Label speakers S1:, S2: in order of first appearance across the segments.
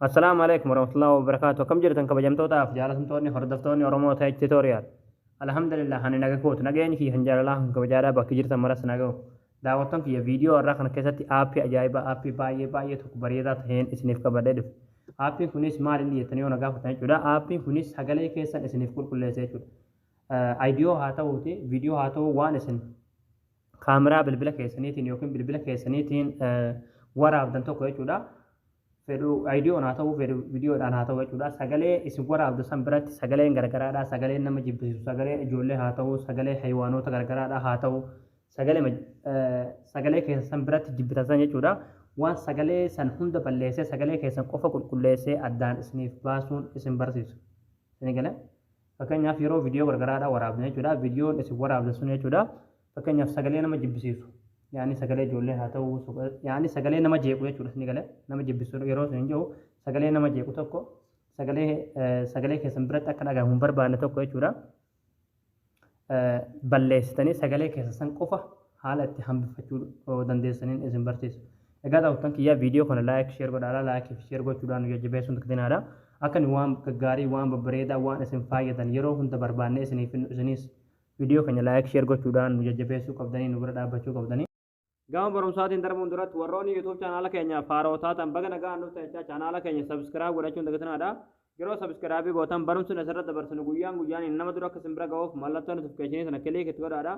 S1: Assalaamu alaikum warahmatullahi wabarakatuh. Akkam jirtan kabajamtootaaf jaalatamtoonni hordoftoonni Oromoo Tech Tutorial. Alhamdulillah ani naga kootu nageenyi kiyya kan jaalalaa kan kabajaadhaa bakki jirtan maras naga koo. Daawwattoon kiyya viidiyoo irraa kana keessatti aappii ajaa'ibaa aappii baay'ee baay'ee tokko bareedaa ta'een isiniif qabadhee dhufe. Aappiin kunis maal inni jettanii yoo na gaafatan jechuudha. Aappiin kunis sagalee keessan isiniif qulqulleessa jechuudha. Aayidiyoo haa ta'uuti viidiyoo haa ta'uu waan isin kaameraa bilbila keessaniitiin yookiin bilbila keessaniitiin waraabdan tokko jechuudha. Fedhu ayidiyoon haa ta'u, fedhu viidiyoodhaan haa ta'u jechuudha. Sagalee isin waraabdu san biratti sagaleen gargaraadha. Sagaleen nama jibbisiisu, sagalee ijoollee haa ta'u, sagalee hayiwaanoota gargaraadha haa ta'u, sagalee keessa san biratti jibbitan san jechuudha. Waan sagalee san hunda balleessee sagalee keessan qofa qulqulleessee addaan isiniif baasuun isin barsiisa. Isin galee? Fakkeenyaaf yeroo viidiyoo gargaraadhaa waraabdan jechuudha. Viidiyoon isin waraabdan sun jechuudha. Fakkeenyaaf sagalee nama jibbisiisu. Yaani sagalee ijoollee haa ta'u, yaani sagalee nama jeequ jechuudha isin galee. Nama jibbisiisu yeroo isin jiru sagalee nama jeequ tokko sagalee sagalee keessan biratti akka dhagahamu hin barbaanne tokko jechuudha. balleessitanii sagalee keessa san qofa haala itti hambifachuu dandeessaniin isin barsiisa. Egaa daawwattan kiyyaa viidiyoo kana laayik sheer godhaadha laayikii fi sheer gochuudhaan nu jajjabeessuun dagdinaadha. Akka nu waan gaggaarii waan babbareedaa waan isin faayyadan yeroo hunda barbaannee isiniif finnu isinis viidiyoo keenya laayik sheer gochuudhaan nu jajjabeessuu qabdanii nu bira dhaabbachuu qabdanii. Gama barumsaatiin darbuun duratti warroonni YouTube chaanaala keenyaaf haaroo taatan baga nagaan dhuftan jechaa chaanaala keenya subscribe godhachuun dagatinaadha. Yeroo subscribe gootan barumsni asirratti dabarsinu guyyaan guyyaan nama dura akka isin bira ga'uuf mallattoo notification sana click itti godhaadha.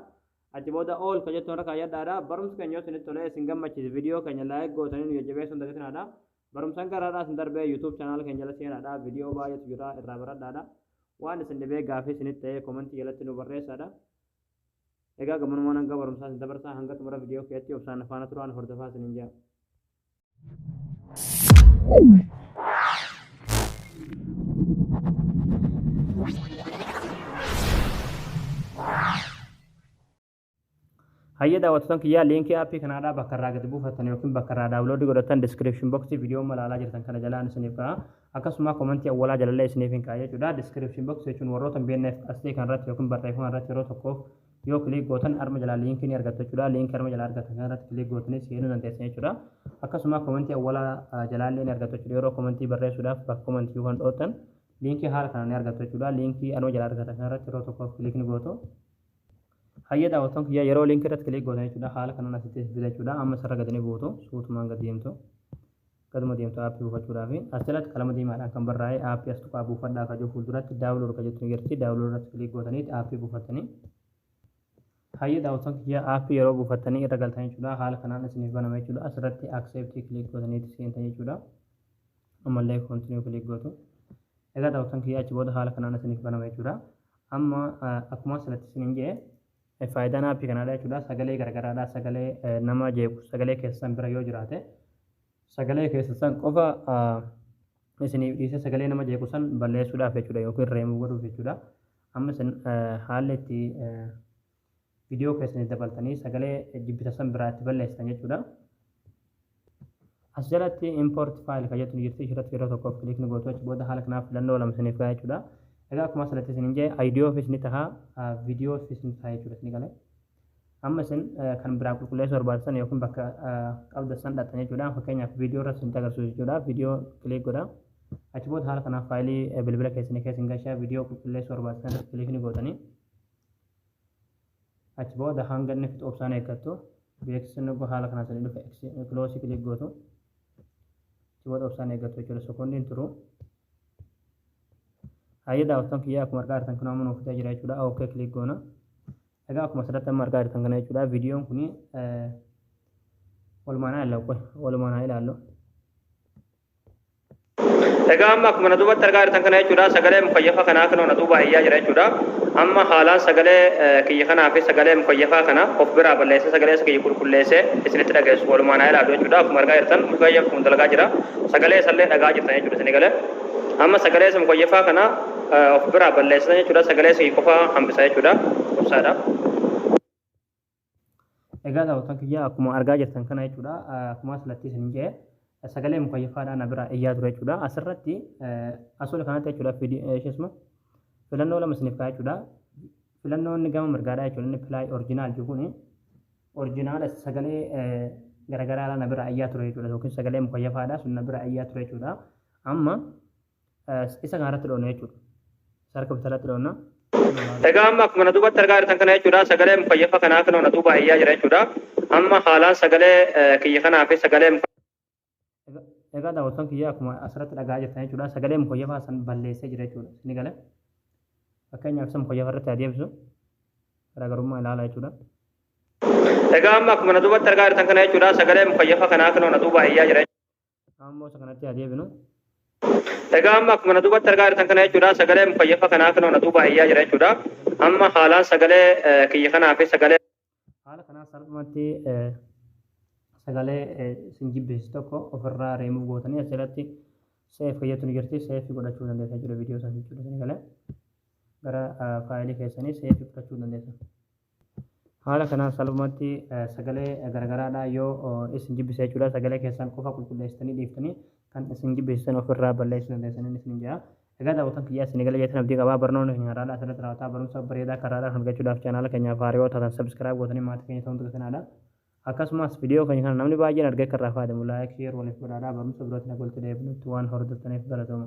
S1: Achi booda all ka jettu irra kaayyadhaadha. Barumsi keenya yoo isinitti tolee isin gammachiise viidiyoo keenya like gootanii nu jajjabeessuun dagatinaadha. Barumsaan garaadhaa isin darbee YouTube chaanaala keenya jala seenaadha. Viidiyoo baay'eetu jira irraa baradhaadha. Waan isin dhibee gaafii isinitti ta'ee komentii jalatti nu barreessaadha. Egaa gammanumaan hanga barumsaa isin dabarsaa hanga xumura viidiyoo kiyatti obsaan na faana turaan hordofaa isiniin jaa. Hayyee daawwattoota kiyyaa liinkii aappii kanaadhaa bakka irraa gadi buufattan yookiin bakka irraa daawuloodii godhattan diskiripshin boksii viidiyoo malaalaa jirtan kana jalaan isiniif ka'a. Akkasumaa komantii awwalaa jalallee isiniifin kaa'a jechuudha. Description box jechuun warroota hin beekneef asxee kana irratti yookiin barreeffama irratti yeroo tokkoof yoo click gootan arma jalaa liinkii ni argattu jechuudha. Liinkii arma jalaa argattan kana irratti click gootanii seenuu dandeessan jechuudha. Akkasumaa komantii awwalaa jalaallee ni argattu jechuudha. Yeroo komantii barreessuudhaaf bakka komantii yookaan dhoottan liinkii haala kanaan ni argattu jechuudha. Liinkii arma jalaa argattan kana irratti yeroo tokkoof click ni gootu. Hayyee daawwattoon kiyya yeroo liinkii irratti click gootan jechuudha. Haala kanaan asitti fida jechuudha. Amma isarra gadi ni buutu. Suutumaan gadi deemtu. Gaduma deemtu app buufachuudhaafi as jalatti qalama diimaadhaan kan barraa'e app as tuqaa buufadhaa ka jedhu fuulduratti download ka jettu ni jirti download irratti click gootaniiti app buufattanii Hayyee daawwattoon kiyya app yeroo buufattanii irra galtan jechuudha haala kanaan isiniif banama jechuudha asirratti accept click gootaniiti seentan jechuudha ammallee continue click gootu egaa daawwattoon kiyya achi booda haala kanaan isiniif banama jechuudha amma akkuma asirratti isiniin jedhe Faayidaan aappii kanaadha jechuudha. Sagalee garagaraadha. Sagalee nama jeequ sagalee keessan bira yoo jiraate sagalee keessan san qofa isiniif dhiisee sagalee nama jeequ san balleessuudhaaf jechuudha yookiin reemuu godhuuf jechuudha. Amma isin haalli itti viidiyoo keessaniif dabaltanii sagalee jibbita san biraa itti balleessitan jechuudha. As jalatti import file kan jettu ni jirti ishirratti yeroo tokkoof click ni gootu achi booda haala kanaaf filannoo lama isiniif gaha jechuudha. Egaa akkuma asirratti isin hin jedhe ideo ofis ni taha video ofis ni taha jechuudha isin galee. Amma isin kan biraa qulqulleessuu barbaachisan yookiin bakka qabda san dhaqxan jechuudha. Fakkeenyaaf video irratti isin agarsiisu jechuudha. Video click godha. Achi booda haala kanaaf faayilii bilbila keessanii keessa hin gashaa video qulqulleessuu barbaachisan irratti click ni gootanii. Achi booda hanga inni fixu obsaan eeggattu. Beeksisni yogguu haala kanaan isinii dhufe X close click gootu. Achi booda obsaan eeggattu jechuudha. Sekoondii hin turu. Hayyee daawwattoon kiyyaa akkuma argaa jirtan kun amma nuuf fixee jira jechuudha. OK click goona. Egaa akkuma asirratti amma argaa jirtan kana jechuudha. Viidiyoon kun walumaan haa ilaallu. Walumaan haa ilaallu. Egaa amma akkuma na duubatti argaa jirtan kana jechuudha sagalee mukayyafa kanaa kunoo na duubaa iyyaa jira jechuudha. Amma haalaan sagalee kiyya kanaa fi sagalee mukayyafaa kana of biraa balleessee sagalee isa kiyya qulqulleessee isinitti dhageessu walumaan haa ilaallu jechuudha. Akkuma argaa jirtan mukayyaf kun dalagaa jira. Sagalee isallee dhagaa jirtan jechuudha isin egalee. Amma sagalee isa mukayyafaa kana of biraa balleessitan jechuudha sagalee isa kiyya qofaa hambisa jechuudha. Qubsaadha. Egaa daawwattoota kiyyaa akkuma argaa jirtan kana jechuudha akkuma asirratti isin jedhe sagalee mukayyafaadhaan na biraa iyyaa ture jechuudha asirratti asoola kanatti jechuudha isheesuma filannoo lama isiniif kaa'e jechuudha filannoo inni gama mirgaadhaa jechuudha inni pilaay orjinaal jiru kuni orjinaala sagalee garagaraadhaan na biraa iyyaa ture jechuudha yookiin sagalee mukayyafaadhaa sun na biraa iyyaa ture jechuudha amma Isa kana irratti dhoofna jechuudha. Isa harka bitaa irratti dhoofna. Egaa amma
S2: akkuma na duubatti argaa jirtan kana jechuudha sagalee mukayyafaa kanaa kunoo na duubaa iyyaa jira jechuudha. Amma haalaan sagalee kiyya kanaa fi sagalee
S1: Egaa daawwattoon kiyya akkuma asirratti dhagaa jirtan jechuudha sagalee mukayyafaa san balleessee jira jechuudha. Ni gala. Fakkeenyaaf isa mukayyafa irratti adeemsu garaagarummaa ilaala jechuudha.
S2: Egaa amma akkuma na duubatti argaa jirtan kana jechuudha sagalee mukayyafaa kanaa kunoo na duubaa iyyaa jira Ammoo isa kanatti
S1: haa deebinu.
S2: Egaa amma akkuma na duubatti argaa jirtan kana jechuudha sagalee mukayyafa kanaa kanoo na duubaa iyyaa jira jechuudha. Amma haalaan sagalee kiyya kanaa fi sagalee. Haala kanaan
S1: salphumatti sagalee isin jibbisiisu tokko ofirraa reemuu gootanii asirratti seef fayyadamtu ni jirti seef godhachuu dandeessa jechuudha viidiyoo sana jechuudha sagalee gara faayilii keessanii seef godhachuu dandeessa. Haala kanaan salphumatti sagalee garagaraadhaa yoo isin jibbise jechuudha. Sagalee keessan qofa qulqulleessitanii dhiiftanii kan isin jibbisiisan ofirraa balleessuu dandeessaniin isiniin jedha. Egaa daawwatan kiyyaa isin egalee jeetan abdii qabaa barnoonni keenya har'aadhaa asirratti raawwataa barumsa bareedaa karraadhaan argachuudhaaf chaanaala keenyaaf haaraa yoo taatan sabiskiraayib gootanii maatii keenya ta'uun tuqisinaadha. Akkasumas viidiyoo keenya kana namni baay'een argee akka irraa fayyadamu laayik sheer waliif godhaadhaa barumsa birootiin akka walitti deebinutti waan hordoftaniif galatooma.